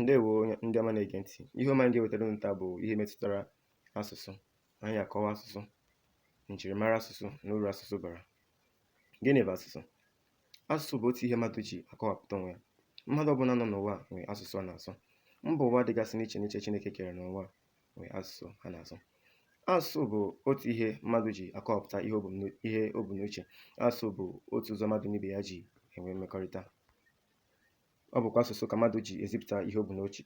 ndewo nụ ndị ọma na-ege ntị ihe ọma anyị ga-ewetara unu taa bụ ihe metụtara asụsụ anyị akọwa asụsụ njirimara asụsụ na uru asụsụ bara gịnị bụ asụsụ asụsụ bụ otu ihe mmadụ ji akọwapụta onwe ya mmadụ ọbụla nọ n'ụwa a nwere asụsụ ọ na-asụ mba ụwa dịgasị n'iche n'iche chineke kere n'ụwa a nwere asụsụ ha na-asụ asụsụ bụ otu ihe mmadụ ji akọwapụta ihe o bu n'u- ihe o bu n'uche asụsụ bụ otu ụzọ mmadụ na ibe ya ji enwe mmekọrịta ọ bụkwa asụsụ ka mmadụ ji ezipụta ihe o bu n'uche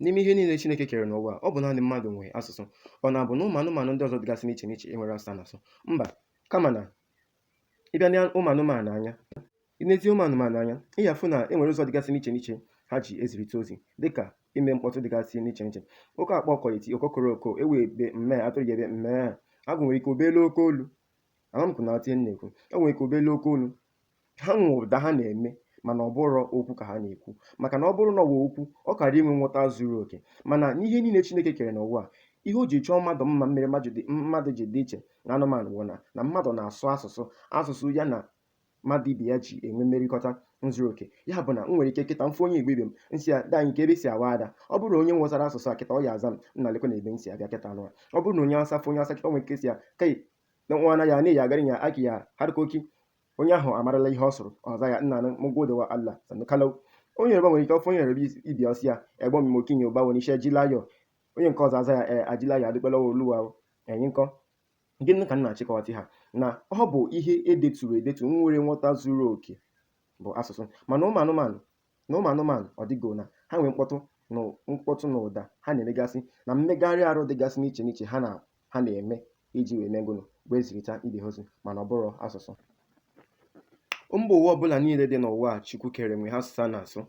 n'ime ihe niile Chineke kere n'ụwa ọ bụ naanị mmadụ nwe asụsụ ọ na-abụ na ụmụ anụmanụ ndị ọzọ dịgasị n'iche n'iche enwerọ asụsụ ha na-asụ mba kama na ị bịa nee ụmụ anụmanụ anya i nezie ụmụ anụmanụ anya ị ga-afụ na e nwere ụzọ dịgasị n'iche n'iche ha ji ezirịta ozi dịka ime mkpọtụ dịgasị n'iche n'iche oke ọkpa ọ ga-eti okokoro oko ewu ebe mme atụrụ ya ebe mme agụ nwere ike o bee n'oke olu ahamkụ na atị na-ekwu e nwere ike o bee n'oke olu ha nwe ụda ha na-eme mana ọ bụrọ okwu ka ha na-ekwu maka na ọ bụrụ na ọ bụ okwu ọ kara inwe nghọta zuru oke mana n'ihe niile chineke kere n'ụwa a ihe o ji chọọ mmadụ mma mere mmadụ dị- mmadụ ji dị iche na anụmanụ bụ na na mmadụ na-asụ asụsụ asụsụ ya na mmadụ ibe ya ji enwe mmerịkọta zuru oke ya bụ na m nwere ike kịta m fụ onye igbo ibe m m sị ya nna kee ebe i si awa ada ọ bụrụ na onye nwụsara asụsụ a kịta ọ ya aza m nna lekwanụ ebe m si abịa kịta nụwa ọ bụrụ na onye Awụsa fụ onye Awụsa kịta o nwere ike sị ya kai dan uwana ya ne ya garin ya ake ya harkoki onye ahụ amarala ihe ọ sụrụ ọ zaa ya na mun gode wa Allah sannu kalau onye Yoruba nwere ike ọ fụ onye Yoruba ibe ya ọ sị ya ẹ̀gbọ́n mi mo kí yín o báwo ni ṣé ẹ jí láyọ̀ onye nke ọzọ aza ya ee a jí láyọ̀ a dúpẹ́ lọ́wọ́ Olúwa o ẹ̀yin ńkọ́ gịnị ka m na-achọ ịkọwata ha na ọ bụ ihe e deturu edetu nwere nghọta zuru oke bụ asụsụ mana ụmụ anụmanụ na ụmụ anụmanụ ọ dịgo na ha nwee mkpọtụ na mkpọtụ na ụda ha na-emegasị na mmegharị arụ dịgasị n'iche n'iche ha na ha na-eme iji wee mee gụnụ wee zirịta ibe ha ozi mana ọ bụrọ asụsụ mba ụwa ọbụla niile dị n'ụwa a chukwu kere nwe ha asụsụ ha na-asụ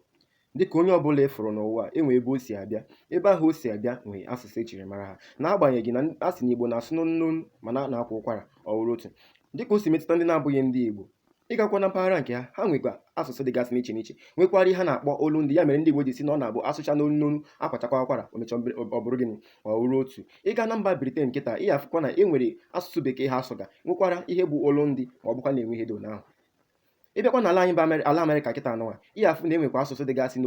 dịka onye ọbụla ị fụrụ n'ụwa a nwe ebe o si abịa ebe ahụ o si abịa nwee asụsụ e jiri mara ha n'agbanyeghị na a sị na igbo na-asụ n'onu n'onu mana a na-akwa ụkwara ọ wụrụ otu dịka o si metụta ndị na-abụghị ndị igbo ị gakwa na mpaghara nke ha ha nwekwa asụsụ dịgasị n'iche n'iche nwekwara ihe ha na-akpọ olu ndị ya mere ndị Igbo ji sị na ọ na-abụ asụcha n'olu n'olu akwachakwa ụkwara o mechaa ọ bụrụ gịnị ọ wụrụ otu ị gaa na mba Briten kịta ị afụkwa na e nwere asụsụ bekee ha asụga nwekwara ihe bụ olu ndị ma ọ bụkwa na-enwe ihe ndị ahụ ị bịakwa n'ala anyị bụ ala Afrịka kịta nụnwa ị afụ na e nwekwa asụsụ dịgasị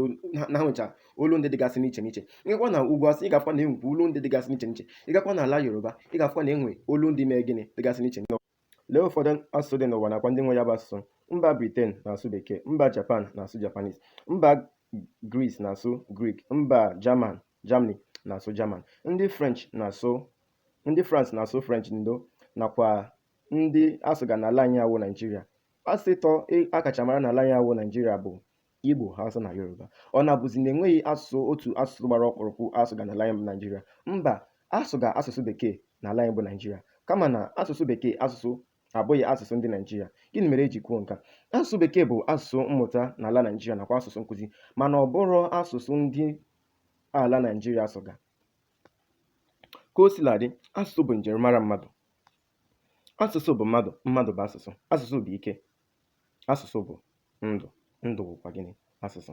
na ha nwecha olu ndị dịgasị n'iche n'iche ị gakwa na ugwu Awụsa ị ga-afụkwa na e nwekwa olu ndị dịgasị n'iche n'iche ị gakwa n'ala Yoruba ị ga-afụkwa na e nwe olu ndị mee gịnị dịgasị n'iche n'iche Lee ụfọdụ asụsụ dị n'ụwa nakwa ndị nwe ya bụ asụsụ. Mba Briten na-asụ Bekee, mba Japan na-asụ Japanese, mba Gris na-asụ Grik, mba Jaman Germany na-asụ Jaman, ndị French na-asụ ndị France na-asụ French ndo nakwa ndị asụga n'ala anyị awụ Naijiria. Asụsụ ịtọ e, a kacha mara n'ala anyị awụ Naijiria bụ Igbo, Hausa na Yoruba. Ọ na-abụzi na enweghị asụsụ otu asụsụ gbara ọkpụrụkpụ a sụga n'ala anyị bụ Naịjirịa? Mba, a sụga asụsụ Bekee n'ala anyị bụ Naịjirịa. Kama na asụsụ Bekee asụsụ abụghị asụsụ ndị Naịjirịa. Gịnị mere e ji kwuo nke a? Asụsụ Bekee bụ asụsụ mmụta n'ala Naịjirịa nakwa asụsụ nkụzi mana ọ bụrọ asụsụ ndị ala Naịjirịa sụga. Ka o sila dị, asụsụ bụ njirimara mmadụ. Asụsụ bụ mmadụ, mmadụ bụ asụsụ. Asụsụ bụ ike. Asụsụ bụ ndụ, ndụ bụkwa gịnị? Asụsụ.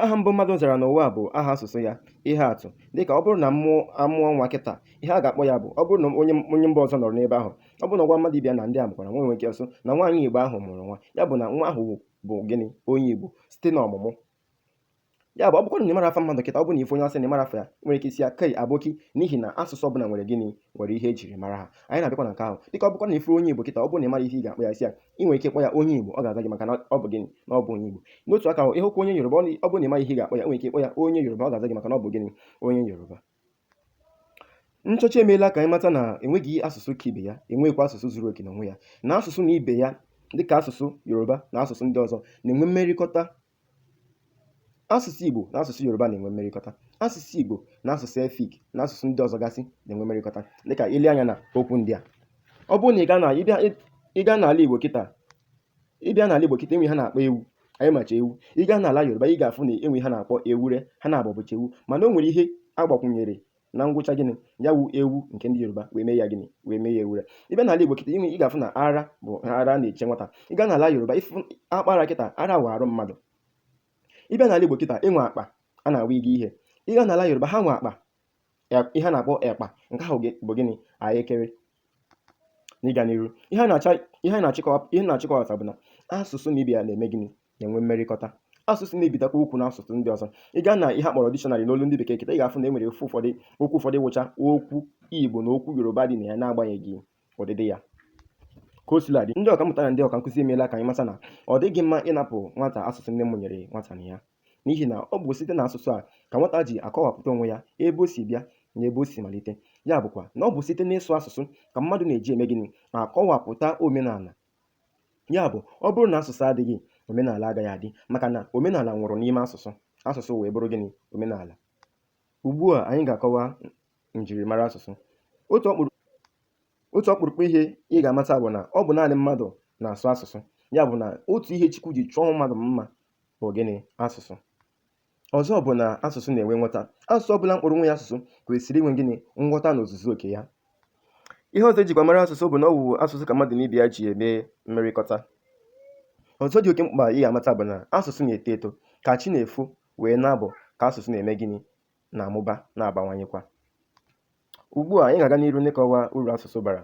Aha mbụ mmadụ zara n'ụwa bụ aha asụsụ ya. Ihe atụ, dịka ọ bụrụ na a mụọ a mụọ nwa kịta, ihe a ga-akpọ ya bụ ọ bụrụ na onye onye mba ọzọ nọrọ n'ebe ahụ, ọ bụrụ na ọ gwa mmadụ ibe ya na ndị a mụkwara nwa nwere ike ọ sị na nwaanyị Igbo ahụ mụrụ nwa, ya bụ na nwa ahụ bụ gịnị? Onye Igbo site n'ọmụmụ ya bụ ọ bụkwa na ịmara afa mmadụ kịta ọ bụ na ị fụ onye hausa na ịmara afa ya nwere ike ị sị ya kai aboki n'ihi na asụsụ ọbụla nwere gịnị nwere ihe e jiri mara ha anyị na-abịakwa na nke ahụ dịka ọ bụkwa na ị fụrụ onye igbo kịta ọ bụ na ịmara ihe ị ga-akpọ ya ị sị ya i nwere ike kpọ ya onye igbo ọ ga-aza gị maka na ọ bụ gịnị na ọ bụ onye igbo n'otu aka ahụ ịhụkwa onye yoruba ọ bụ na ịmara ihe ị ga-akpọ ya nwere ike kpọ ya onye yoruba ọ ga-aza gị maka na ọ bụ gịnị onye yoruba nchọcha emeela ka anyị mata na enweghị asụsụ ka ibe ya enweghịkwa asụsụ zuru oke n'onwe ya na asụsụ na ibe ya dịka asụsụ yoruba na asụsụ ndị ọzọ na-enwe mmerịkọta asụsụ igbo na asụsụ yoruba na-enwe mmerịkọta asụsụ igbo na asụsụ efik na asụsụ ndị ọzọ gasị na-enwe mmerịkọta dịka i lee anya na okwu ndị a ọ bụrụ na ị gaa na- ị bịa- ị gaa n'ala igbo kịta ị bịa n'ala Igbo kịta e nwe ihe a na-akpọ ewu anyị macha ewu ị gaa n'ala Yoruba ị ga-afụ na e nwe ihe a na-akpọ ewure ha naabọ bụcha ewu mana o nwere ihe a gbakwunyere na ngwụcha gịnị ya wụ ewu nke ndị Yoruba wee mee ya gịnị wee mee ya ewure ị bịa n'ala Igbo kịta ị ga-afụ na ara bụ ara a na-eche nwata ị gaa n'ala Yoruba ị fụ a kpọọ ara kịta ara wụ arụ mmadụ ị bịa n'ala Igbo kịta e nwe akpa a na-awa igi ihe ị gaa n'ala Yoruba ha nwe akpa ihe a na-akpọ ekpa nke ahụ bụ gịnị ahịekere n'ịga n'iru ihe na-achọ ịkọwata bụ na asụsụ na ibe ya na-eme gịnị na-enwe mmerịkọta asụsụ na-ebitakwa okwu na asụsụ ndị ọzọ ị gaa na ihe a kpọrọ dictionary n'olu ndị bekee kịta ị ga-afụ na e nwere okwu ụfọdụ okwu ụfọdụ wụcha okwu igbo na okwu yoruba dị na ya na-agbanyeghị ọdịdị ya ka o sila dị ndị ọkammụta na ndị ọka nkụzi emeela ka anyị mata na ọ dịghị mma ịnapụ nwata asụsụ nne mụnyere nwata na ya n'ihi na ọ bụ site na asụsụ a ka nwata ji akọwapụta onwe ya ebe o si bịa na ebe o si malite ya bụkwa na ọ bụ site n'ịsụ asụsụ ka mmadụ na-eji eme gịnị akọwapụta omenala ya bụ ọ bụrụ na asụsụ adịghị omenala agaghị adị maka na omenala nwụrụ n'ime asụsụ asụsụ wee bụrụ gịnị omenala Ugbu a anyị ga-akọwa njirimara asụsụ. Otu ọkpụrụ otu ọkpụrụkpụ ihe ị ga-amata bụ na ọ bụ naanị mmadụ na-asụ asụsụ. Ya bụ na otu ihe Chukwu ji chọọ mmadụ mma bụ gịnị? Asụsụ. Ọzọ bụ na asụsụ na-enwe nghọta. Asụsụ ọ bụla kpọrọ onwe ya asụsụ kwesịrị inwe gịnị? Nghọta n'ozuzu oke ya. Ihe ọzọ e jikwa mara asụsụ bụ na ọ wụ asụsụ ka mmadụ na ibe ya ji eme mmerịkọta. Ọzọ dị oke mkpa ị ga-amata bụ na asụsụ na-eto eto ka chi na-efo wee na-abọ ka asụsụ na-eme gịnị na-amụba na-abawanyekwa ugbu a anyị ga-aga n'iru n'ịkọwa uru asụsụ bara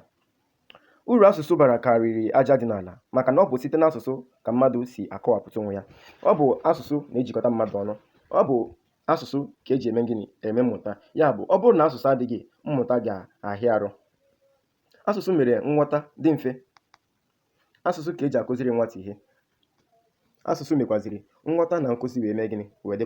uru asụsụ bara karịrị aja dị n'ala maka na ọ bụ site n'asụsụ ka mmadụ si akọwapụta onwe ya ọ bụ asụsụ na-ejikọta mmadụ ọnụ ọ bụ asụsụ ka e ji eme gịnị eme mmụta ya bụ ọ bụrụ na asụsụ adịghị mmụta ga-ahịa arụ asụsụ mere nghọta dị mfe asụsụ ka e ji akụziri nwata ihe asụsụ mekwaziri nghọta na nkụzi wee mee gịnị wee dịkwa